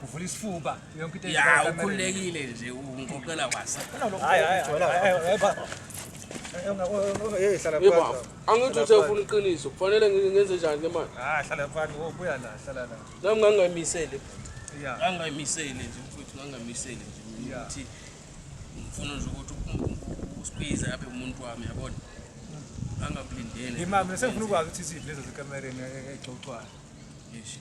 Uvula isifuba yonke into Ya ukhulekile nje ungixoxela kwasa. Hayi hayi hayi baba. Hey hlala phansi. Yebo. Angithi uthe ufuna iqiniso. Kufanele ngenze njani ke manje? Ah hlala phansi wobuya la hlala la. Nami ngangayimisele. Yeah. Ngangayimisele nje mfowethu ngangayimisele nje ukuthi ngifuna nje ukuthi usibize abe umuntu wami yabona. Angakulindele. Imama sengifuna ukwazi ukuthi iziphi lezo zikamereni egcogcwayo. Yeshi.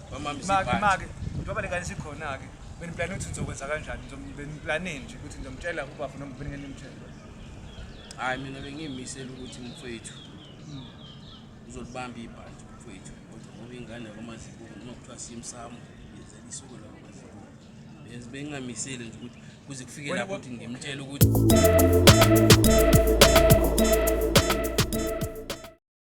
make make njengoba lengane sikhona-ke beniplane ukuthi ngizokwenza kanjani beniplane nje ukuthi ngizomtshela ubafo noma beningene mtshela hhayi mina bengimisele ukuthi mfowethu hmm. uzolibamba ibhanti mfowethu kodwa ngoba ingane yakwamazibuko noma kuthiwa simsamo yenzela isuku lakwamazibuko yes bengingamisele nje ukuthi kuze kufike lapho ukuthi ngimtshele ukuthi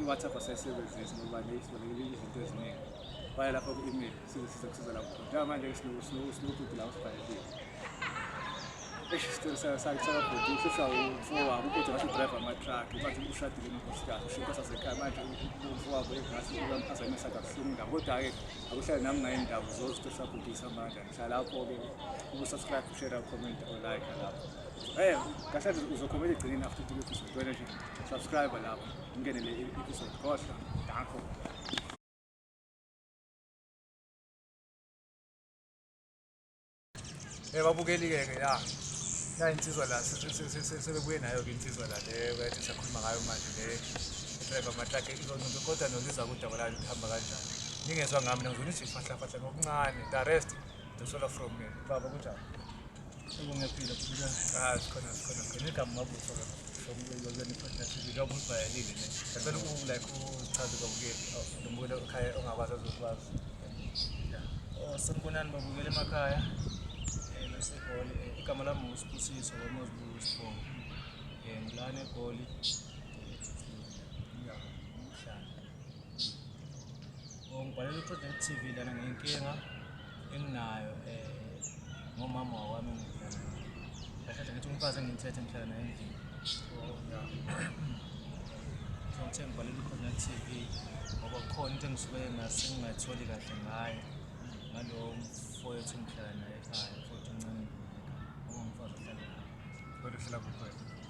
i-whatsapp asayisebenzisi ngoba neyisibonekile izinto eziningi baya lapho ku-email sizosiza kusiza lapho njengoba manje sinobhuti la usibhalelile sakabhuti uhlisa umfowabo ubhuti ngathi udrive amatruck manje ushadile nonkosikazi ushintsha sasekhaya manje umfowabo engathi uyamphaza imesaka buhlungu ndawo kodwa-ke akuhlale nami ngayo indawo zozitosabhutisa manje lapho-ke ukusubscribe ushare ucomment olike lapho eh kahle uzokhomela egcineni after the episode wena nje subscribe lapho ungene le episode khohlwa ngakho Eh babukeli-ke ke ya ya insizwa la sebebuye nayo-ke insizwa la le bayathi sakhuluma ngayo manje le driver matlake kodwa noliza kudaba layo lihamba kanjani ningezwa ngami nangizona izifahlafahla ngokuncane The rest the solo from me. Baba kunjani? Ungephile kubuka. Ah, sikhona sikhona sikhona igama mabuso ke. Sokulweni fantastic njengoba usibhayelile ne. Ngicela uku like uchaze kwabukeli nombulo ekhaya ongakwazi azokwazi. Oh, sanibonani babukeli emakhaya. Eh, nasegoli eh, igama lami uSibusiso kwaMozulu Sibongo. Eh, ngilana egoli. ngibhalela uqedela TV lana ngenkinga enginayo eh ngomama wami ngidlala kahle ngithi umfazi engimthethe ngihlala naye endlini so ngithe ngibhalela uqedela TV ngoba kukhona into engisuke ngasingayitholi kahle ngayo ngalowo mfowethu ngihlala naye ekhaya futhi uncane ngoba umfazi ohlala kodwa uhlala kukhona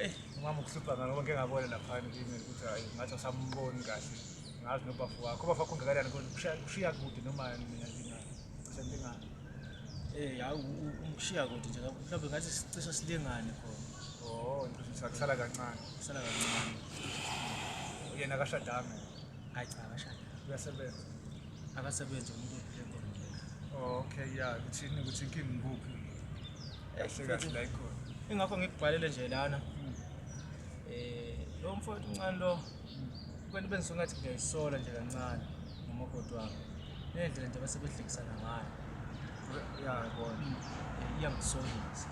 Eyi, umama ukuhlupha ngalo konke engabona laphana kimi ukuthi hayi ngathi asamboni kahle. Ngazi nobafo wakho. Ubafo wakho ungakanani kodwa kushiya kushiya kude noma mina ngina sendingana. Eh, hawu umshiya kude nje kakhulu. Mhlawumbe ngathi sicishe silingane khona. Oh, ngisho sakusala kancane. Kusala kancane. Yena akashadanga. Hayi cha akashada. Uyasebenza. akasebenzi umuntu ophile ngomkhulu okay ya kuthini ukuthi inkinga ngikuphi kahle kahle la ikhona ingakho ngikubhalele nje lana hmm. eh lo mfowethu uncane lo kwento bengisuke ngathi ngiyayisola nje kancane ngomakoti wami nendlela nje basebehlekisana ngayo ya yabona hmm. eh, iyangisolisa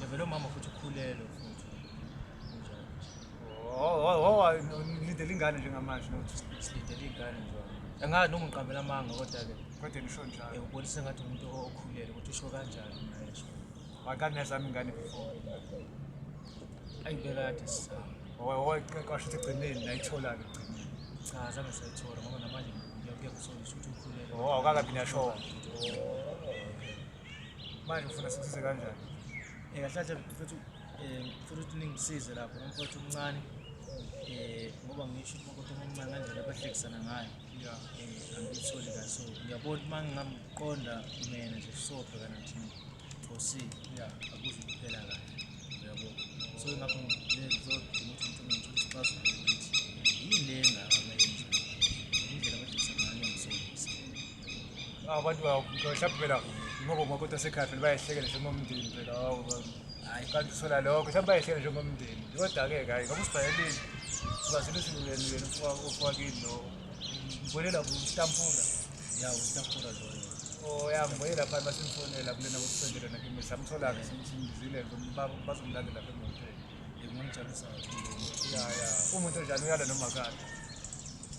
yavele umama futhi ukhulelwe futhi ngilindele ingane njengamanje silindele iy'ngane nje angazi noma ngiqambela amanga kodwa-ke kodwa nisho njalo ubonise ngathi umuntu okhulele ukuthi usho kanjani mnayesho wakani yazami ingane before ayibekade sisama washo ukuthi egcineni nayithola-ke egcineni cha zange sayithola ngoba namanje ngiyakusolisa ukuthi ukhulele o awukakabi niyashoa manje ufuna sikusize kanjani um kahle kahle mfethu um futhi ukuthi ningisize lapho umfowethu omncane um ngoba ngisho ukuthi umfowethu omncane ngendlela abahlekisana ngayo um angiyitholi kahle so ngiyabona uma ngingamqonda mina nje sobhekana thina fosi akuze kuphela kahle uyabo so ngakho ngizodinga ukuthi umuntu ngithole isixazululo ukuthi yini le engaka abantu mhlawumbe phela ngoba umakoti wasekhaya phela bayehlekele njengomndeni phela hawu hayi kanti usola lokho mhlawumbe bayehlekele njengomndeni kodwa-ke hhayi ngoba usibhayelile ubazile usiluleni yena ufakile lo ngibonela kustampula ya ustampula loyo oyangibonye oh, lapha basimfonela kulena kokusendele nakimi samthola-ke simzile bazomlandela lapha emoteni ngimonijalusayo ya ya umuntu onjani uyala noma kade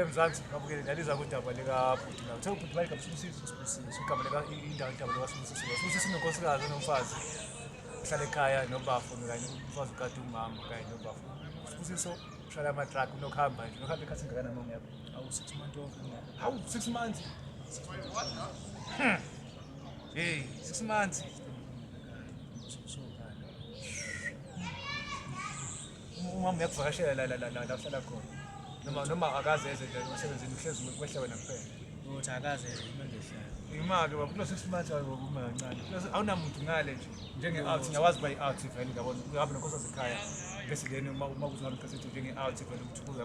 emzansi babukele ndaliza kudaba likabhuti la uthe ubhuti bayigaba sibusiso sibusiso igama lika indawo igama lika sibusiso sibusiso unonkosikazi onomfazi uhlala ekhaya nobafo kanye umfazi ukade umama kanye nobafo sibusiso ushayela amatraki unokuhamba nje unokuhamba ekhathi ngakana mama yakho awu six months old hawu six months hey six months Umama uyakuvakashela la la la la la uhlala khona. Noma noma akaze eze nje umsebenzini uhlezi kwehle wena kuphela. Ukuthi akaze eze uma ngehlala. Imake baba kulo six months ayo uma kancane. Kulo awunamuntu ngale nje. Njenge out ngiyawazi by out vele ngiyabona. Uhambe nokhosa sekhaya. Bese leni uma uma kuzona kase njenge out vele ukuthi kuza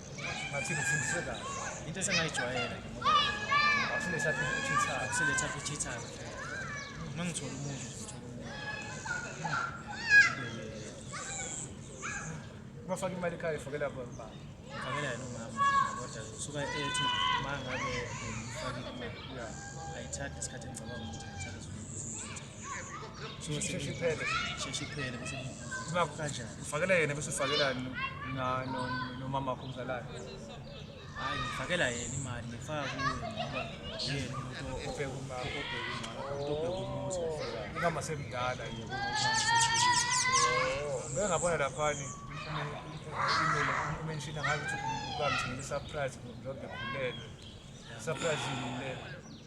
ngathi ngifundise kahle into esengayijwayela akusiletha ichitha akusiletha ichitha uma ngithola umuntu uma faka imali ekhaya ifakela baba ngifakela yena umama kodwa usuka ethi uma ngabe ngifakile imali ayithathe isikhathi engicabanga ukuthi ufakela yena bese ufakela nomama wakho omzalayo hayi ngifakela yena imali ngifaka kuye ngoba yena umuntu obheka umama obheka umuzi ingama semdala yebo ngengabona laphani umenshina ngabe uthi ukamthi ngesurprise ngoba ngibhulelwe surprise yini le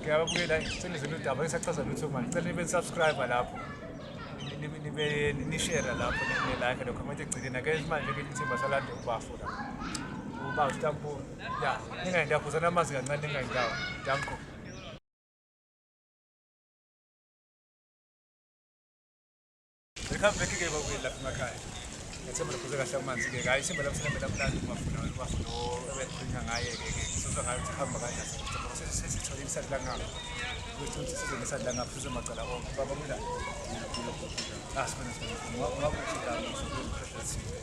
ngiyababukela ngicela zona udaba ngisachaza lutho manje cela nibe subscribe lapho nibe nishare lapho ne like lokho manje gcine ke manje ke ithemba salande ubafo la uba utampo ya ningayendawo khuzana amazi kancane ningayendawo danko Welcome back ke bakwethu lapha emakhaya. Ngethemba lokhuze kahle amanzi ke. Hayi simba lapha sinembela mnandi kumafuna wena bafuna obekhuluma ngaye ke ke. Sizwa ngayo ukuthi hamba kanjani. Sesithola sesithola isadi la ngapha. Ukuthi uthi sizwe ngesadi la ngapha sizwe macala onke. Baba kulala. Asibona sibona. Ngwa ngwa kuthi la ngapha.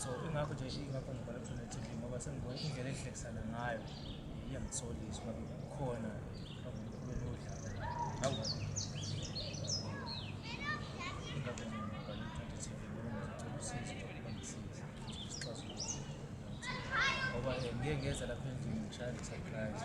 so ingakho nje ingakho ngibhala kuthona TV ngoba sengibona indlela ehlekisana ngayo iyangisolisa uba kukhona akulweni odlala awu ingakho nje ngibhala kuthona TV ngoba ngizocela usizo ngoba ngisiza isixazululo ngoba eh, ngeke ngeza lapha endlini ngishaya nge-surprise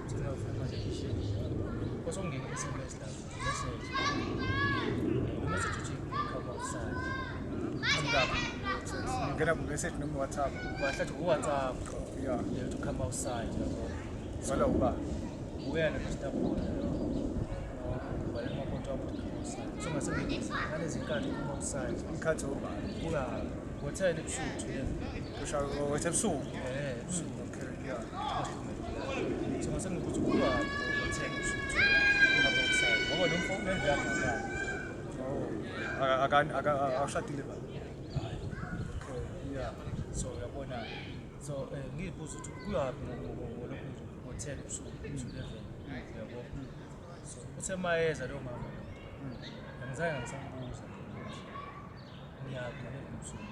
ngena kumessage noma whatsapp wahlathi uwhatsapp yeah. yeah, to come outside wala uba uyena nositabona ikhathi obani kuthele ebusuku wethe ebusuku awushadile ba so uyabona so eh, ngiyibuza ukuthi kuyaphi ngolokhu ngo-ten usuku usulevel yabo so uthe mayeza leyo mama angizange ngisambuza ngiyaphi ngalezo msuku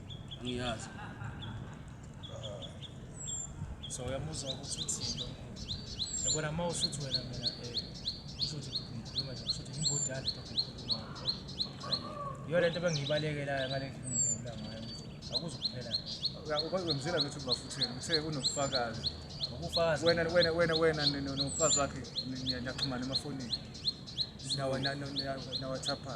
Ngiyazi. So uyamuzwa ukuthi uthini. Yabona uma usuthi wena mina eh usuthi ngikhuluma nje usuthi imbodala into ngikhuluma. Yona into bengibalekelayo ngale ndlela ngibula ngayo. Akuzukuphela. Ukwenzela ukuthi ubafuthele uthe unobufakazi. Ubufakazi. Wena wena wena wena nomfazi wakhe niyaxhumana emafonini. Nawa nawa nawa nawa thapha.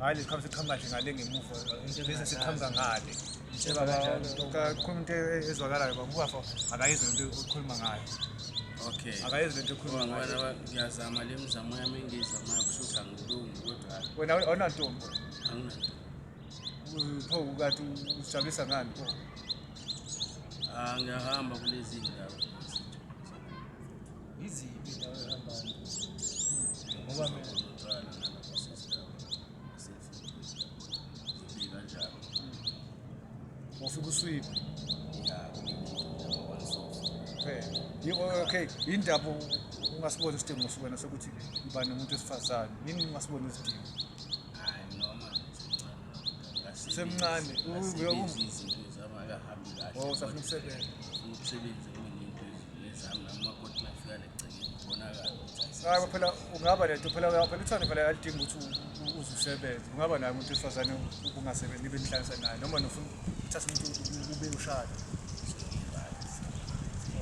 hayi lesikhwama siqhamuka nje ngale ngemuva bese siqhamuka ngale kakhuluma into ezwakalayo babukafa akayizwe into okhuluma ngayo okay akayenzi lento ekhuluma ngayo ngiyazama le mizamo yami engiyizamayo kushuthi angilungi kodwa wena awunantombi anginantombi pho kathi usijabulisa ngani pho ah, ngiyahamba kulezi ndawo Yiziphi indawo ehambayo? Ngoba mina ufika uswiphe okay yindaba ungasibona isidingo sibona sokuthi uba nomuntu wesifazane yini ungasibona isidingo semncane usafuna ukusebenza hayi phela ungaba nento phela phela uthando phela alidingi ukuthi uze usebenze ungaba naye umuntu wesifazane ubungasebenzi nibe nihlalisa naye noma nofuna uthatha umuntu ube ushada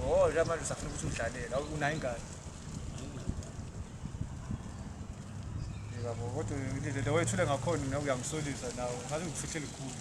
oh nje manje usafuna ukuthi udlalele unayo ingane yebo kodwa indlela wethule ngakhona nawe uyangisolisa nawe ngathi ngikufihle likhulu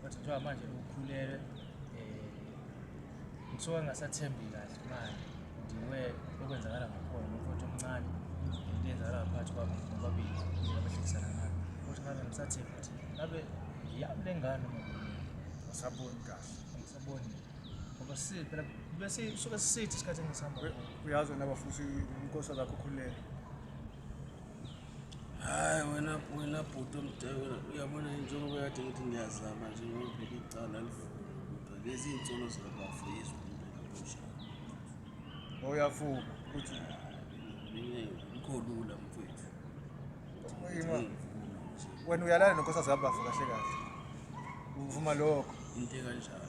Kodwa njengoba manje ukhulelwe um ngisuke ngingasathembi kahle manje ndiwe okwenzakala ngakhona nomfowethu omncane into eyenzakala ngaphakathi kwabo nobabili abahlekisana ngabo futhi ngabe ngisathembi ukuthi ngabe yami le ngane ngisaboni kahle ngisaboni ngoba siphela bese suke sisithi isikhathi engisihamba uyazi wena bafuthi inkosi zakho khululele Hayi wena wena bhuti omdala uyabona njengoba kade ngithi ngiyazama nje ngibheke icala lifunde kodwa lezi nsolo zikabafo yizwa umntanakusha oyafuba uthi mkholula mfethu wena uyalana nonkosazi kabafo kahle kahle uvuma lokho into ekanjalo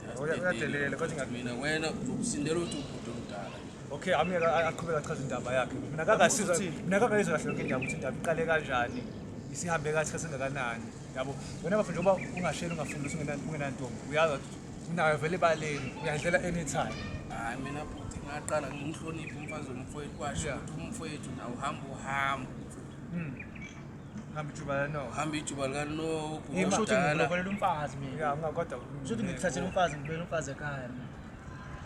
mina wena uzokusindela ukuthi ubhuti omdala okay ami aqhubeka achaza indaba yakhe mina kakasizwa mina kakayizwa kahle yonke indaba ukuthi indaba iqale kanjani isihambe kathi kasengakanani yabo wena bafo njengoba ungasheli ungafundisi ungenantombi uyazi ukuthi unayo vele ebaleni uyadlela anytime hayi mina bhuti ngaqala ngimhloniphe umfazi womfowethu kwasho ukuthi umfowethu nawo uhamba uhambo hmm. hamba ijuba lanoku hamba ijuba lanoku ngikulokolela umfazi mina kodwa shuthi ngikuthathela umfazi ngibuyela umfazi ekhaya mina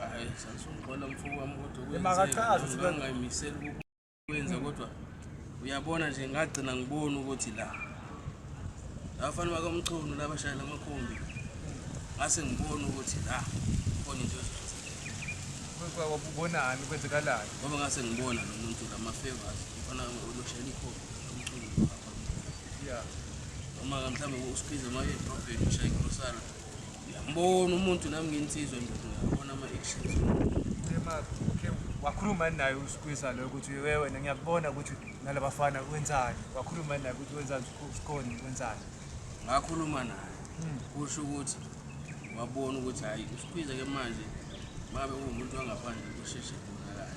hayi sasungibona mfuku wami kodwa ngingaymiseli ukwenza kodwa uyabona nje ngagcina ngibona ukuthi la abafana bakamchunu labashayela amakhumbi ngase ngibona ukuthi la khona into ubonani kwenzekalani ngoba ngase ngibona lo muntu lamafavors mfana oloshela ikhombi ngiyambona umuntu nami ngensizwa ngiyabona ama-actions wakhuluma naye usikwisa loyo ukuthi we wena ngiyakubona ukuthi nalabafana wenzani wakhuluma naye ukuthi wenzani usikhoni wenzani ngakhuluma naye hmm. kusho ukuthi wabona ukuthi hhayi usikhwiza ke manje mabe uwumuntu wangaphandle kusheshe kubonakala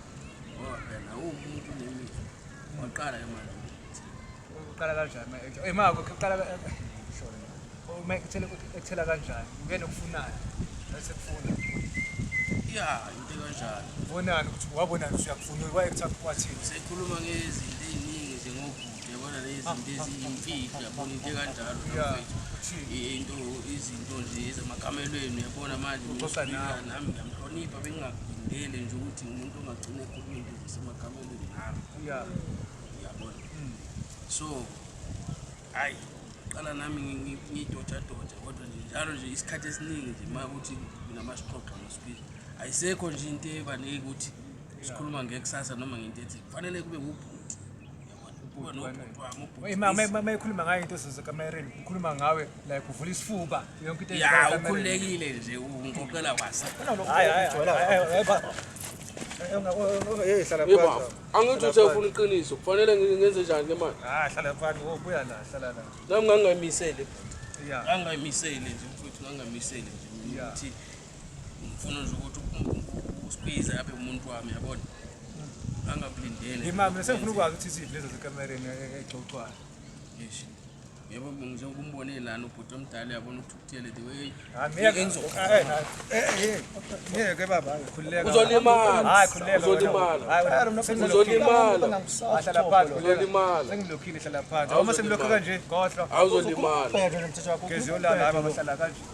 ngoba phela uwumuntu nemizwa Waqala ke manje. Uqala kanjani manje? Eh mako uqala uma ekuthela ekuthela kanjani? Ungena ukufunana. Bese kufuna. Yeah, into kanjani. Ubonani ukuthi wabonani usuyakufuna wayekutha kwathini? Sekhuluma ngezinto eziningi nje ngokude yabona lezi ah, zinto ah, eziyimfihlo ah, yabona into kanjalo mfethu. Into izinto nje ezamakamelweni yabona manje nami ngiyamhlonipha bengingakudingele nje ukuthi umuntu ongagcina ekhuluma into zasemakameni. Yeah. Uyabona? Mm. So hayi qala nami ngidoja doja kodwa nje njalo nje isikhathi esiningi nje uma ukuthi nginama sixoxa ngosiphila. Ayisekho nje into ebanike ukuthi sikhuluma ngekusasa noma ngento ethi kufanele kube ngubhuti. mayikhuluma ngayo into zezekamereni ukhuluma ngawe like uvula isifuba yonke into ya ukhululekile nje ungoqela kwasa angithi usefuna iqiniso kufanele ngenze njani ke manje ah, hlala phansi ubuya la hlala la nami ngangingayimisele ngangingayimisele nje mfowethu ngangingayimisele nje ukuthi ngifuna nje ukuthi uSpiza abe umuntu wami yabona angakulindele imama mina sengifuna ukwazi ukuthi iziphi lezo zikamereni exoxwayo yeshi yebo nje ukumbone lana ubhuti omdala yabona ukuthi ukuthele the way ngeke baba khululeka uzolimala hayi khululeka uzolimala hayi mina uzolimala ahlala phansi uzolimala sengilokhile hlala phansi uma semlokho kanje khohlwa awuzolimala phezulu umthetho wakho geziyolala hayi baba hlala kanje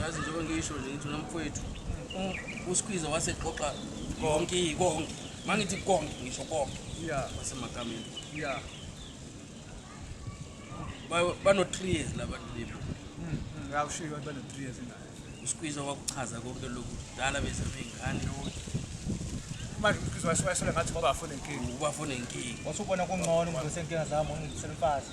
yazi njengoba ngisho nje ngithi nomfowethu usikhwiza waseqoqa konke konke uma ngithi konke ngisho konke wasemagameni bano-three years labantu libo hmm, hmm, ngiyawushiyo abantu bano-three years nayo usikhwiza wakuchaza konke lokhu dala bese beyingane manje umkhizo wayesole ngathi ngoba afune inkinga ubafune inkinga wasubona kungcono umntu esenkinga zami ungidisela umfazi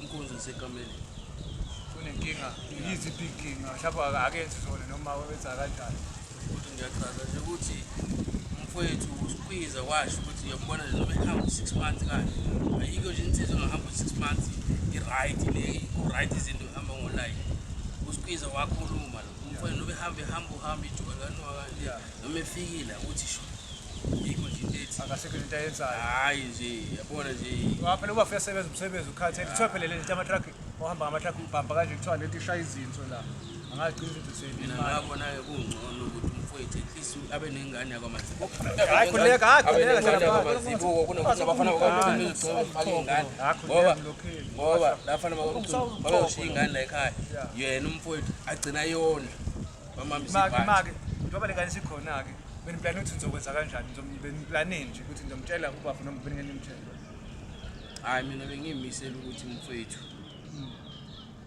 Inkunzi isekameleni. Kunenkinga, yizi inkinga, mhlawumbe akakenzi zona noma wenza kanjani. Ukuthi ngiyachaza nje ukuthi mfowethu usikhwiza washo ukuthi uyambona nje noma ehamba u-six months kanje. Ayikho nje insizwa engahamba u-six months i-right le, ku-right izinto ihamba ngolayini. Usikhwiza wakhuluma lo. Umfowethu noma ehamba ehamba uhamba ijubane kanwakanjani. noma efikile akuthi sho yikho nje into ethi akasekho into ayenzayo hayi nje yabona nje waphela uba fika sebenza umsebenzi ukhathele kuthiwa phela le nto ama-truck ohamba ngama-truck ubhamba kanje kuthiwa le nto ishaya izinso la angaqinisa into mina ngabona-ke kungcono ukuthi umfowethu at least abe nengane yakwamazibuko hayi khuleka hayi khuleka hlala phansi amazibuko kunokuthi abafana bakwamazibuko bezogcoba bafake ingane ngoba ngoba lafana bakwamazibuko babeyoshiya ingane la ekhaya yena umfowethu agcina yona make make njengoba lengane sikhona-ke beniplane ukuthi ngizokwenza kanjani beniplane nje ukuthi ngizomtshela ubaba noma beningene mtshela hhayi mina bengimisele ukuthi mfowethu hmm.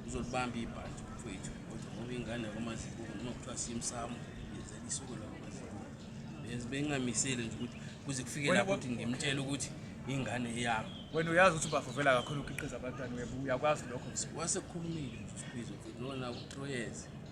uzolibamba ibhanti mfowethu kodwa ngoba ingane yakwamazibuko noma kuthiwa simsamo yenzela isuku lakwamazibuko bengingamisele nje ukuthi kuze kufike lapho ukuthi ngimtshele ukuthi ingane yami wena uyazi ukuthi ubavuvela kakhulu ukhiqiza abantwana webo uyakwazi lokho wase kukhulumile nje usibizo lona utroyeze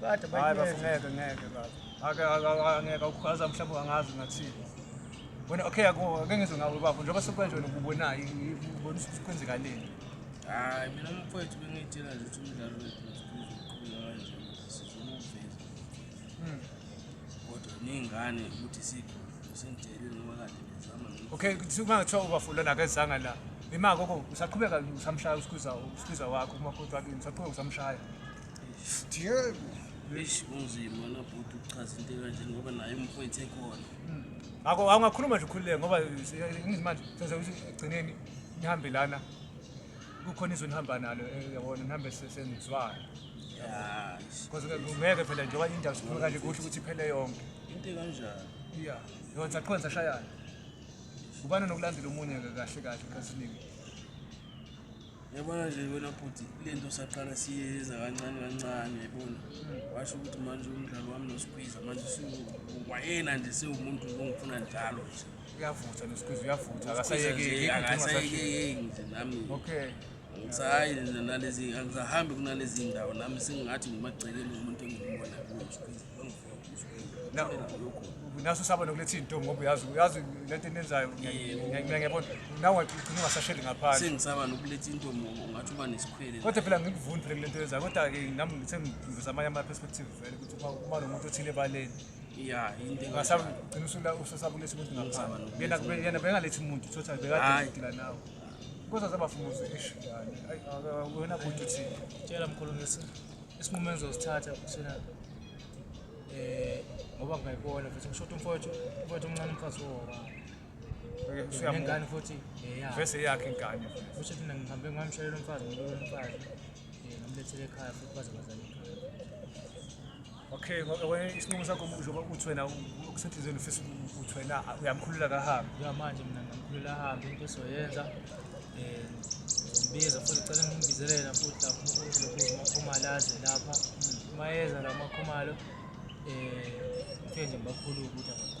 Kade Hayi bafo bayineza. ngeke ngeke bafo. Ake angeke ukwazi mhlawumbe angazi ngathini. Wena okay yako ake ngizwe ngawe bafo njengoba sekwenje wena ububonayo ubona ukuthi kwenzeka leni. Hayi mina mfowethu bengiyitshela nje ukuthi umdlalo wethu uzoqhubeka kanje sizomuveza. Mm. Kodwa ningane ukuthi sikho singitshelile ngoba kade ngizama nokwenza. Okay uma kuthiwa ubafo lona akezanga la. Imako ko usaqhubeka usamshaya usikhwiza usikhwiza wakho uma kodwa ke usaqhubeka usamshaya. Eish kunzima na bhuti ukuchaza into ekanje ngoba naye umfowethu ekhona. Ngakho awungakhuluma nje ukhululeke ngoba ngizimanje senze ukuthi egcineni nihambe lana kukhona izwe nihamba nalo eh, yabona nihambe se- senizwana Yeah. because ke ngeke phela njengoba indawo sikhuluma kanje kuhle ukuthi iphele yonke Into ekanjani? iya yona saqhona sashayana ubani nokulandela omunye-ke kahle kahle kasiningi Yabona nje wena bhuti le nto saqala siyenza kancane kancane yabona washo ukuthi manje umdlalo wami noSqueeze manje wayena nje sewumuntu ongifuna njalo nje uyavutha noSqueeze uyavutha akasayekeki akasayekeki nje nami okay ngisahayi nalezi angisahambi kunalezi ndawo nami sengingathi ngimagcekeni umuntu engimbonayo kuSqueeze naso saba nokuletha into ngoba uyazi uyazi lento enenzayo ngiyabona nawe ugcina ungasasheli ngaphandle sengisaba nokuletha into ngoba ungathi uba nesikhwele kodwa phela ngikuvundi phela kulento yenzayo kodwa ke nami ngithe ngiveza amanye ama perspective vele ukuthi uma nomuntu othile ebaleni ya into ngasaba ugcina usula usasaba uletha umuntu ngaphandle yena yena bengalethi umuntu uthothi bekade udila nawe kodwa zabafumuze esho yani wena buthi uthini tshela mkhulumisi isinqumo engizosithatha kusena eh ngoba ngayibona futhi ngishoda umfowethu umfowethu omncane umfazi woba ngengane futhi eh, vese yakhe ingane futhi thina ngihambe ngamshalela umfazi ngibona umfazi eh, ngimlethele ekhaya futhi baze bazale ekhaya okay isinqumo sakho njengoba uthi wena ukusenhliziyweni ufisa ukuthi wena uyamkhulula kahambe ya manje mina ngamkhulula ahambe into esizoyenza um ngombiza futhi cela ngimbizelela futhi lapho unkulunkulu makhumalo aze lapha uma yeza la makhumalo um ngifike nje ngibakhulule ukuthi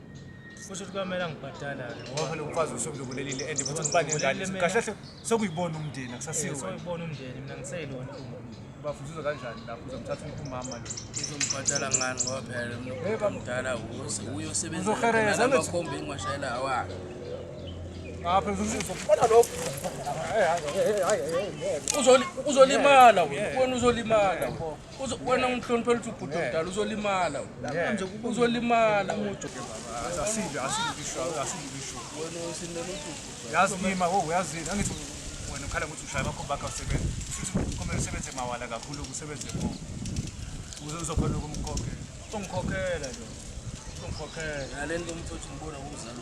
kusho ukuthi kwamele angibhadala-ke ngoba phela umfazi usumlubulelile and futhi ngibangekahle kahle sokuyibona umndeni akusasiwo sokuyibona umndeni mina ngiseyilona bafuzuza kanjani lapho uzomthatha umama lo uzombhadala ngani ngoba phela umuntu omdala wose uyosebenza abakhombe ingwashayela awakhe ngapha uzokubona lokho uzolimala wena uzolimala wena wena ngihloniphela ukuthi ubhuti omdala uzolimala uzolimala yazi yima wo uyazini angithi wena ukhala ukuthi ushaya bakho bakho usebenza futhi kumele usebenze mawala kakhulu ukusebenze bo uze uzokhona ukumkhokhela ungikhokhela nje ungikhokhela nalento umthothi ngibona kumzali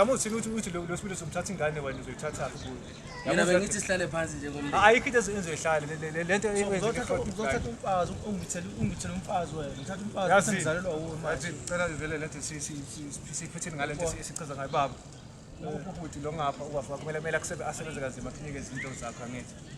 amuthini ukuthi ukuthi lo sibili somthatha ingane wena uzoyithatha kuyo mina bengithi sihlale phansi njengomndeni ayikho into enzoyihlale le nto uzothatha umfazi ungithele ungithele umfazi wena ngithatha umfazi usengizalelwa wuwe manje ngicela vele le nto siphetheni ngale nto esichaza ngayo baba ubhuti lo ngapha uwafa kumele kumele asebenze kanzima aphike izinto zakho angithi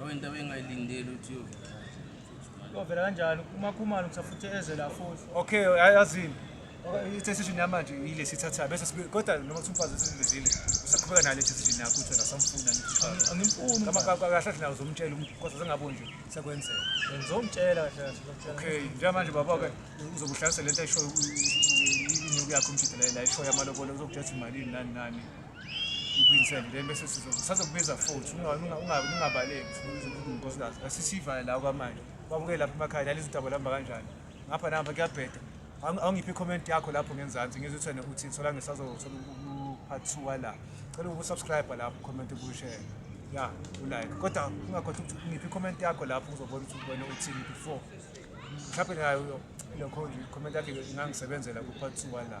awento abengayilindeli ukuthi yovela kanjani umakhumalo kusafuthe eze la futhi okay yazini i-decision yamanje yile sithathayo bese kodwa noma kuthi umfazi esilizile usaqhubeka nale decision yakho uthi nasamfuna angimfuni kahle nawo zomtshela kodwa zengabo nje sekwenzeka ngizomtshela kahle okay njengamanje baba-ke uzokuhlalisa le nto ayishoyo inyuku yakho umjidela la ishoyo amalobolo uzokutshela ukuthi imalini nani nani Ngiphindisele then bese sizokubiza futhi ungabaleki unkosikazi asisivale la kwamanje kwamukele lapha emakhaya lali izintaba lihamba kanjani ngapha nahamba kuyabheda awungiphi i-comment yakho lapho ngenzansi ngizwe uthene uthi sola ngisazothola u-part two wala cela ukusubscribe lapho comment ukushere ya ulike kodwa ungakhohlwa ukuthi ngiphi i-comment yakho lapho uzobona ukuthi ubone uthini before mhlawumbe nayo lokho comment yakhe ingangisebenzela ku-part two wala